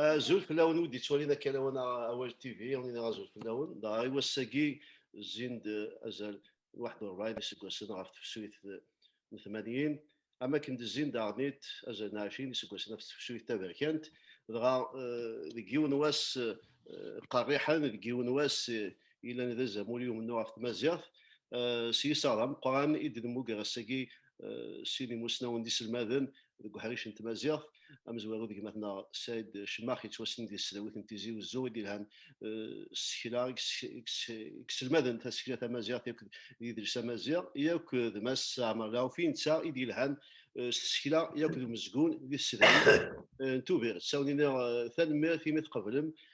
Azul fell-awen ur d-yettwalin akka lawan awal TV, on iḍ azul fell-awen. Dɣa i wass-agi zzin-d azal n waḥed u ṛebɛin iseggasen ɣef tefsut n tmanyin, am wakken d-zzin daɣen-it azal n ɛecrin iseggasen ɣef tefsut taberkant, dɣa deg yiwen wass qerriḥen, deg yiwen wass yellan d azamul i umennuɣ ɣef tmaziɣt, s yiseɣ d ameqqran i d-nemmuger ass-agi sin imusnawen d iselmaden deg uḥric n tmaziɣt, amezwaru d gma-tneɣ Said Cemmax yettwassnen di tesdawit n Tizi Uzzu i d-yelhan s tsekla i iselmaden tasekla tamaziɣt akked yidles amaziɣ, yakk d mass Ɛmer Lɛufi netta i d-yelhan s tsekla yakk d umezgun di tsedrit n Tubiret. Awen-iniɣ tanemmirt imi tqeblem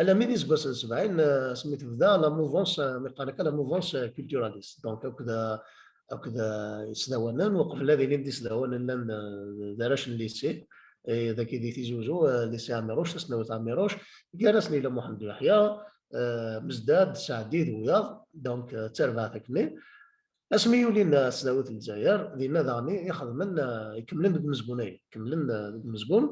alammi d iseggasen n sebɛin asmi tebda la mouvance mi qqaren akka la mouvance culturaliste donc akked akked isdawanen uqbel ad ilin d isdawanen llan d arrac n lycée daki di Tizi Uzzu lycée Amirouche tasnawit Amirouche gar-asen yella Mohamed Yahya Mezdad Saadi d wiyaḍ donc d tarbaɛt akkenni Asmi yulin s tdawit n Lezzayer, dinna daɣen i xedmen, ikemmlen deg umezgun-agi, kemmlen deg umezgun,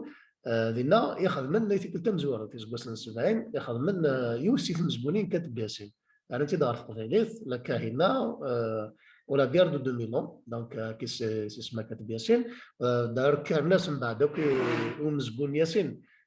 dinna i xedmen tikkelt tamezwarut, iseggasen n sebɛin, i xedmen yiwet si tmezgunin kan teggasin, rran-tt-id ɣer teqbaylit, La Kahina ou la guerre de 2000 ans, donc qui c'est Sisma Kateb Yasin, d'ailleurs kkren-as mbeɛd akk i umezgun Yasin,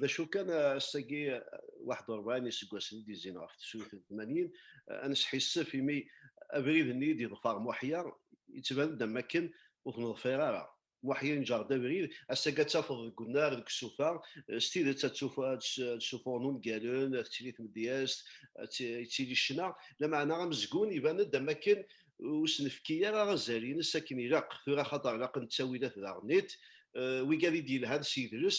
d acu kan ass-agi 41 iseggasen i d-yezzin ɣef tsuyt n 80 ad nesḥissef imi abrid-nni i d-yeḍfer Muḥya yettban-d am wakken ur t-neḍfir ara. Muḥya yenǧer-d abrid, ass-agi ad tafeḍ deg unnar, deg usufa, s tidet ad d-ssufuɣen ungalen, ad tettili tmedyazt, ad d-yettili ccna, lameɛna amezgun iban-d am wakken ur s-nefki ara azal-nnes akken ilaq. Tura axaṭer ilaq ad nettawi d at daɣen-it, wigi ara d-yelhan s yidles,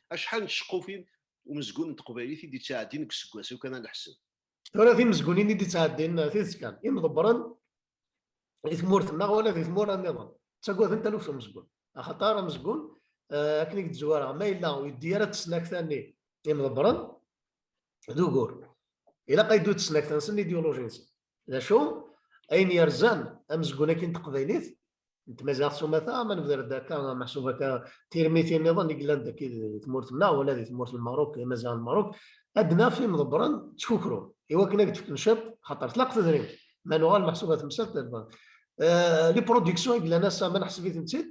Acḥal n tceqqufin umezgun n teqbaylit i d-ittɛeddin deg useggas, iw kan ad neḥseb. Tura timezgunin i d-ittɛeddin eh, tidet kan, imḍebbren di tmurt-nneɣ wala di tmura nniḍen, ttagaden taluft umezgun. Axaṭar amezgun, eh, akken i d-zwareɣ, ma yella ur yeddi ara d tesnakta-nni imḍebbren, d ugur. Ilaq ad yeddu d tesnakta-nsen, idiyuluji-nsen. D acu, ayen yerzan amezgun-agi n teqbaylit, n tmaziɣt s umata ma nebder-d akka meḥsub akka tirmitin niḍen i yellan dagi di tmurt-nneɣ wala di tmurt n Merruk, imaziɣen n Merruk, ad naf imḍebbren ttkukrun i wakken ad d-fken ciṭ xaṭer tlaq tedrimt, ma nuɣal meḥsub a temsalt d lbank. Les productions i yellan ass-a ma neḥseb-itent-id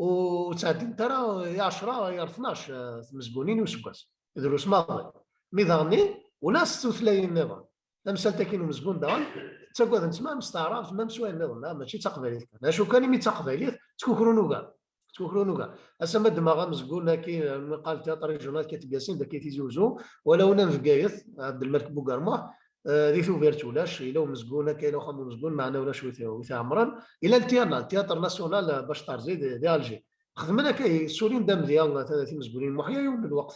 ur ttɛeddint ara i ɛecra i ar tnac tmezgunin i useggas, drus maḍi. Mi d aɣenni ula s tutlayin niḍen tamsalt akin umezgun daɣen ttagaden tma am s taɛrabt ma am s wayen niḍen ah, mačči d taqbaylit kan acu kan imi d taqbaylit ttkukrun ugar ttkukrun ugar ass ma ddmeɣ amezgun akin mqal teatr régional Katib Yassine daki Tizi Ouzou wala una n Bgayet Abdelmalek Bougarma di tubirt ulac ila umezgun akka ila uxxam umezgun maɛna ulac wit iɛemren ila ltiyana tiyatr nasyonal bac tarzi di Alger xedmen akka surrin d amedya timezgunin muḥya yiwen n lweqt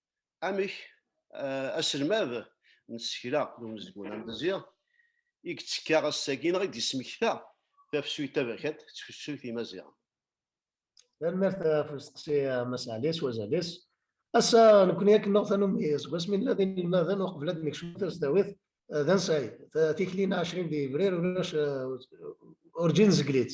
amek eh, aselmad n tsekla n umezgun amdezi i yettekka ass-agi neɣ i d-yesmekta tafsut taberkant d tfsut imaziɣen. Tanemmirt ɣef eh, usteqsi eh, Mass Ɛli s wazal-is. Ass-a nekkni akken neɣ tanumi seg wasmi nella d inelmaden uqbel ad nekcem tasdawit d ansay tikli-nneɣ 20 d yebrir ulac urǧin zeglit.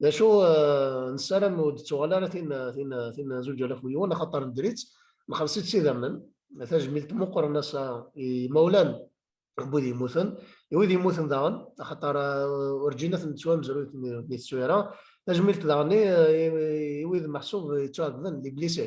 d acu euh, nessaram ur d-tuɣal ara tin tin tin zuǧ alaf wiwen axaṭer nedri-tt nxelleṣ-itt s idammen tajmilt meqqren ass-a i mawlan wid yemmuten i wid yemmuten daɣen axaṭer euh, urǧin ad ten-nettwamzru di teswira tajmilt daɣen i wid meḥsub yettwaɛebden di blise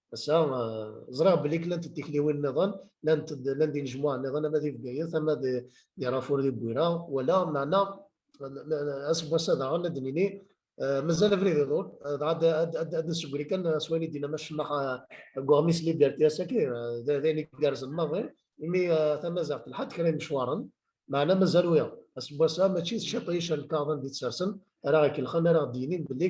ass-a ẓriɣ belli klant d tikliwin niḍen, llant d llan d inejmuɛen niḍen ama di Bgayet ama di Rafour di Bwira wala meɛna aseggas-a daɣen ad d-nini mazal abrid iḍul dɣa ad d-nessegri kan s wayen i d-yenna Mass Cemmax deg uɣmis Liberté ass-agi d ayen igerrzen maḍi imi tamaziɣt telḥa-d kra imecwaren meɛna mazal wiyaḍ aseggas-a mačči d ciṭ i icerreg-aɣ d anda i tt-sersen ara aɣ-ikellxen ara aɣ-d-yinin belli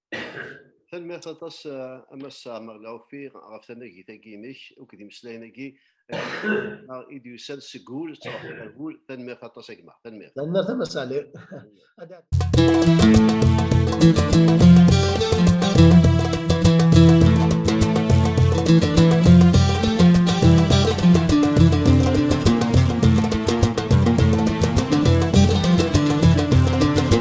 Tanemmirt aṭas a Mass Ɛmer Lɛufi ɣef tanagit-agi-inek akked imeslayen-agi i d-yusan seg wul ttruḥen ar wul. Tanemmirt aṭas a gma. Tanemmirt. Tanemmirt a Mass Ɛli.